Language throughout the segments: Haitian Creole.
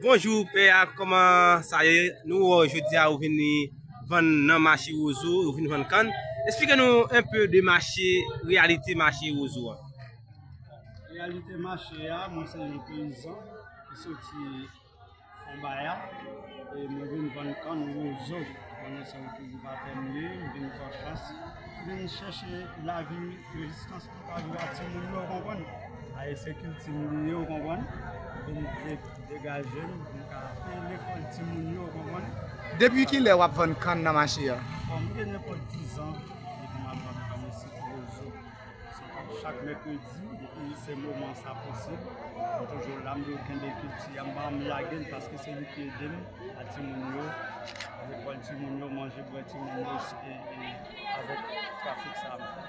Bonjou pè a kòman sa ye nou wè w jodi a ou vin vann nan mache wozo ou vin vann kann esplike nou enpe de mache reyalite mache wozo a. Reyalite mache a mwen se yon peyizan ki soti fonbaya e mwen vin vann kann wozo konnen se yon kiltivatè m ye m vin pran chans vin chèche lavi rezistans. Pa jwe ak timoun yo ou konprann. Aye se kilti m li ye ou konprann. Vin degaje m pou m ka peye lekòl timoun yo ou konprann. Depi kilè w ap vann kann nan mache a? Bon m gen nenpòt dizan depi m ap vann kann isi ti Rozo. Se pa chak mèkredi depi se moman sa posib. M toujou la m toujou kenbe kilti a m pa janm lage l paske se li ki ede m ak timoun yo. Lekòl timoun yo, manje bwè timoun yo e avèk trafik sa m fè.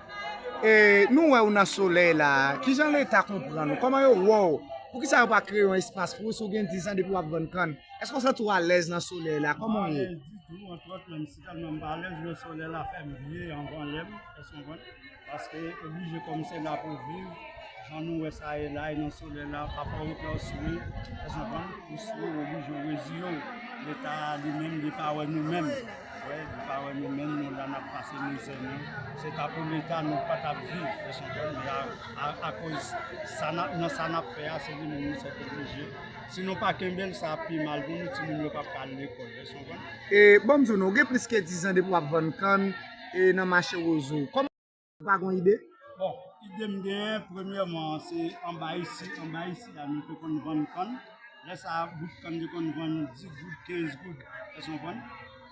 E nou wè ou nan solèy la, kijan leta konprann ou, kòman yo wè ou, poukisa yo pa kreye yon espas pou ou, si ou gen 10 an depi wap vann kann, èske ou santi ou alèz nan solèy la, kòman ou ye? Mwen pa alèz ditou, antwòt menm si tèlman m pa alèz lè solèy la fè m vye anvan lè m, èske ou konprann? Paske oblije kòm se la pou viv, jan nou wè sa ye la, e nan solèy la, pafwa ou klè ou swe, èske ou konprann, ou swe ou oblije ou reziye ou, leta li menm li pa wè nou menm. Wè nou pa wè nou menm nou la nap pase mizè nou se ta pou leta nou pa tap viv men akoz nan sa nap fè a se li menm nou sèt oblije si nou pa kenbel sa ap pi mal pou nou timoun yo pap ka al lekòl wè sa mwen. E banm di w non ou gen plis ke 10 ans depi wap vann kann e nan mache rozo. Ou pa gon ide? Bon, ide m genyen, premyèman, se anba isi, anba isi a nou te konn vann kann. Lè sa a, bout kann te konn vann 10 goud, 15 goud. Èske w konprann?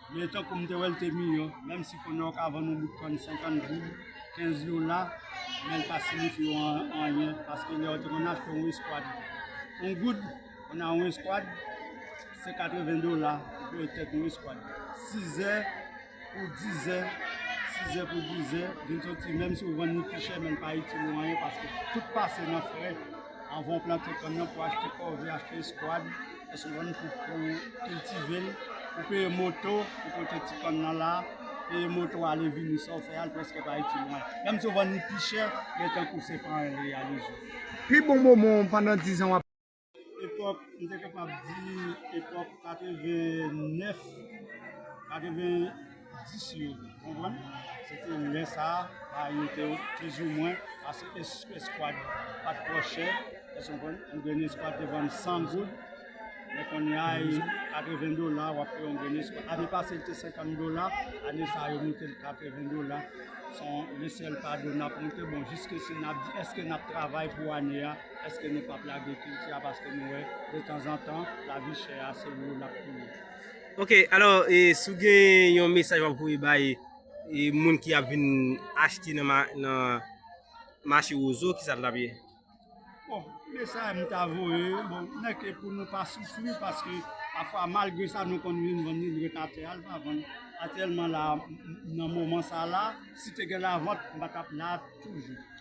Men, tankou m te wè l te miyò, menm si kounye a ou ka vann yon bout kann 50 goud, 15 dola, men l pa siyifi w anyen. Paske lè yo te konn achte yon eskwad 1 goud, kounye a yon eskwad se 80 dola pou peye tèt yon eskwad. Sizè. Pou dizè, sizè pou dizè, vin soti menm si ou vann li pi chè men li pa itil ou anyen paske tout pase nan frè anvan ou plante kann nan pou achte kòve, achte eskwad, lè ou vann pou kiltive l, pou peye moto pou pote ti kann nan la, peye moto ale vini sa ou fè a li prèske pa itil ou anyen. Menm si ou vann li pi chè men tankou se pa anyen li reyalize ou. Pi bon moman w pandan dizan w ap. Epòk, m te kapab di epòk 89, 90 yo, ou konprann? Se te lè sa a, bay yo te pizoumwen, paske eskwad pa t twò chè, èske ou konprann? Yon grenn eskwad te vann 100 goud, men kounye a, 80 dola w ap fè yon grenn eskwad. Ane pase l te 50 dola, ane sa a yo monte l 80 dola. Se yon lesèl fado n ap monte, bon jiskesi n ap di èske n ap travay pou ane a. Eske nou pap lage kilti a paske nou wè de tanzantan lavi chè a se wou lap touye. Ok alò e si w gen yon mesaj wap voye bay e moun ki ap vin achte nan mache wozo kisa l tap ye? Bon mesaj m ta voye bon nèk e pou nou pa soufri paske pafwa malgre sa nou konn vin vann li li ret atè a li pa vann atyèlman la nan moman sa la si te gen lavant m pa tap la toujou.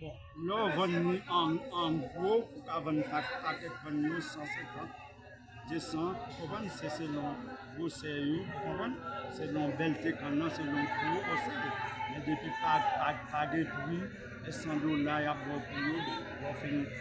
Bon, lè w vann li an gwo, ou ka vann pakèt vann yo 150, 200, ou konprann, se selon gwosè yo, ou konprann, selon bèlte kann nan, selon gwo osè yo. Men depi pa gen pri, e 100 dola y ap ba w pou yo, lè w fin.